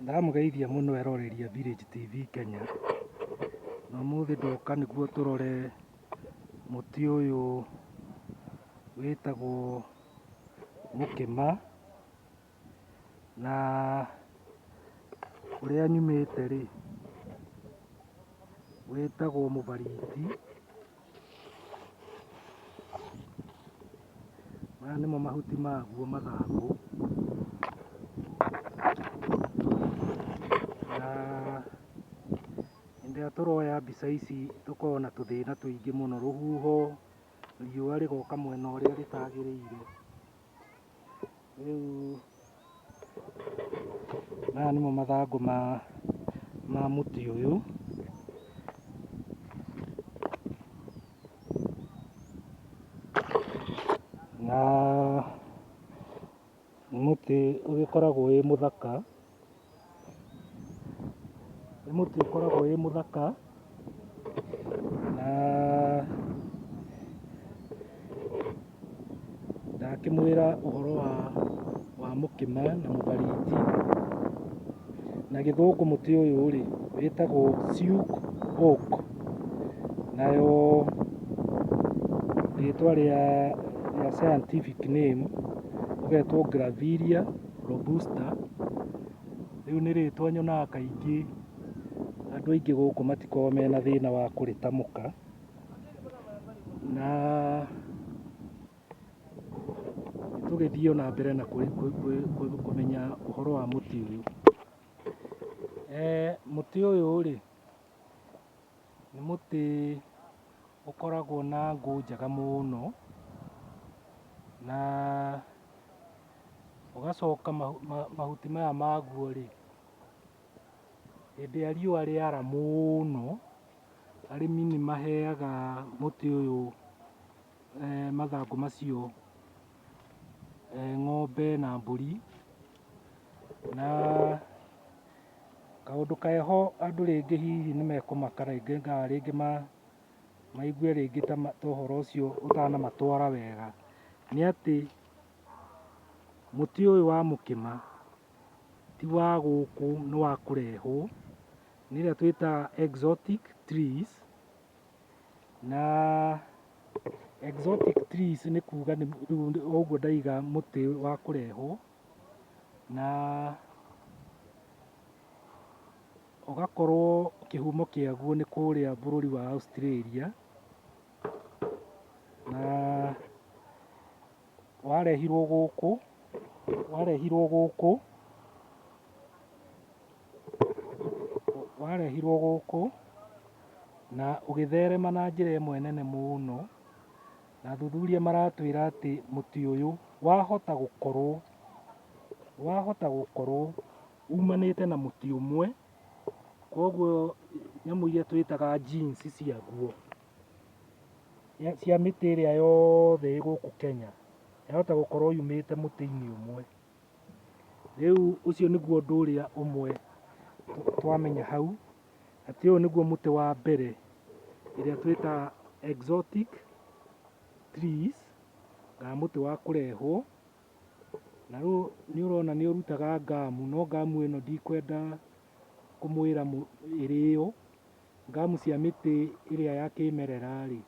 Ndamũgeithia mũno eroreri a Village TV Kenya, na ũmũthĩ ndoka nĩguo tũrore mũtĩ ũyũ wĩtagwo mũkĩma, na kũrĩa nyumĩte rĩ, wĩtagwo mũbariti. Maya nĩmo mahuti maguo mathangũ. Na hĩndĩ ĩrĩa tũroya mbica ici tũkoragwo na tũthĩna tũingĩ mũno, rũhuho, riũa rĩgoka mwena ũrĩa rĩtagĩrĩire. Rĩu maya nĩmo mathangũ ma ma mũtĩ ũyũ. Na nĩ mũtĩ ũgĩkoragwo wĩ mũthaka. Nĩ mũtĩ ũkoragwo wĩ mũthaka na ndakĩmwĩra ũhoro wa wa mũkĩma na mũbariti. Na gĩthũngũ mũtĩ ũyũ rĩ wĩtagwo siuk oak. Nayo rĩtwa rĩa rĩa scientific name ũgetwo graviria. Robusta, rĩu nĩ rĩtwa nyonaga kaingĩ andũ aingĩ gũkũ matikoragwo mena thĩna wa kũrĩtamũka, na tũgĩthiĩ ona mbere na kũmenya ũhoro wa mũtĩ ũyũ, mũtĩ ũyũ rĩ, Nĩ mũtĩ ũkoragwo na ngũ njega mũno, na ũgacoka mahuti maya maguo rĩ, hĩndĩ ĩrĩa riũa rĩara mũno, arĩmi nĩ maheaga mũtĩ ũyũ. mathangũ macio ng'ombe na mbũri, na kaũndũ keho andũ rĩngĩ hihi nĩ mekũmaka rĩngĩ kana rĩngĩ maigue rĩngĩ ta ũhoro ũcio ũtanamatwara wega, nĩ atĩ mũtĩ ũyũ wa mũkĩma ti wa gũkũ nĩ wa kũrehwo, nĩ ĩrĩa twĩtaga exotic trees. Na exotic trees nĩ kuga nĩ rĩu nĩ- o ũguo ndaiga mũtĩ wa kũrehwo na ũgakorwo kĩhumo kĩaguo nĩ kũrĩa bũrũri wa Australia na warehirwo gũkũ warehirwo gũkũ warehirwo gũkũ na ũgĩtherema na njĩra ĩmwe nene mũno, na athuthuria maratwĩra atĩ mũtĩ ũyũ wahota gũkorwo, wahota gũkorwo umanĩte na mũtĩ ũmwe, kogwo nyamũ iria twĩtaga genes ciaguo, cia mĩtĩ ĩrĩa yothe ĩ gũkũ Kenya, yahota gũkorwo yumĩte mũtĩ-inĩ ũmwe. Rĩu ũcio nĩguo ũndũ ũrĩa ũmwe twamenya hau, atĩ ũyũ nĩguo mũtĩ wa mbere ĩrĩa twĩtaga exotic trees, kana mũtĩ wa kũrehwo, na rĩu nĩ ũrona nĩ ũrutaga ngamu, no ngamu ĩno ndikwenda kũmwĩra ĩrĩo, ngamu cia mĩtĩ ĩrĩa ya kĩmerera rĩ,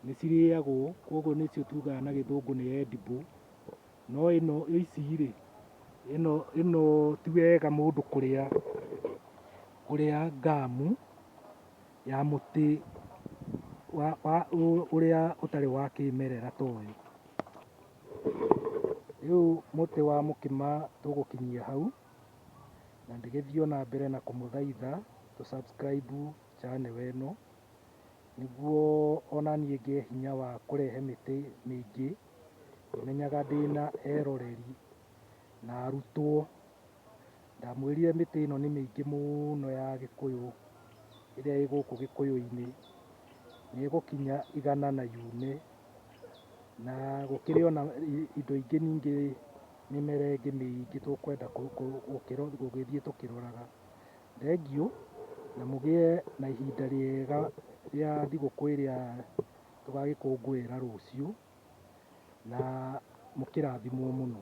nĩ cirĩagwo, koguo nĩcio tugaga na gĩthũngũ nĩ edible. no ĩno ici rĩ, ĩno ĩno ti wega mũndũ kũrĩa kũrĩa ngamu ya mũtĩ wa wa ũ- ũrĩa ũtarĩ wa kĩmerera ta ũyũ. Rĩu mũtĩ wa mũkĩma tũgũkinyia hau, na ndĩgĩthiĩ ona mbere na kũmũthaitha tũ subscribe channel ĩno, nĩguo ona niĩ ngĩe hinya wa kũrehe mĩtĩ mĩingĩ. Menyaga ndĩ na eroreri na arutwo. Ndamwĩrire mĩtĩ ĩno nĩ mĩingĩ mũno ya gĩkũyũ ĩrĩa ĩ gũkũ gĩkũyũ-inĩ, nĩ ĩgũkinya igana na yume. Na gũkĩrĩ ona indo ingĩ ningĩ mĩmera ĩngĩ mĩingĩ tũkwenda gũgĩthiĩ tũkĩroraga. Thengiũ na mũgĩe na ihinda rĩega rĩa thigũkũ ĩrĩa Tũgagĩkũngũĩra rũciũ na mũkĩrathimwo mũno.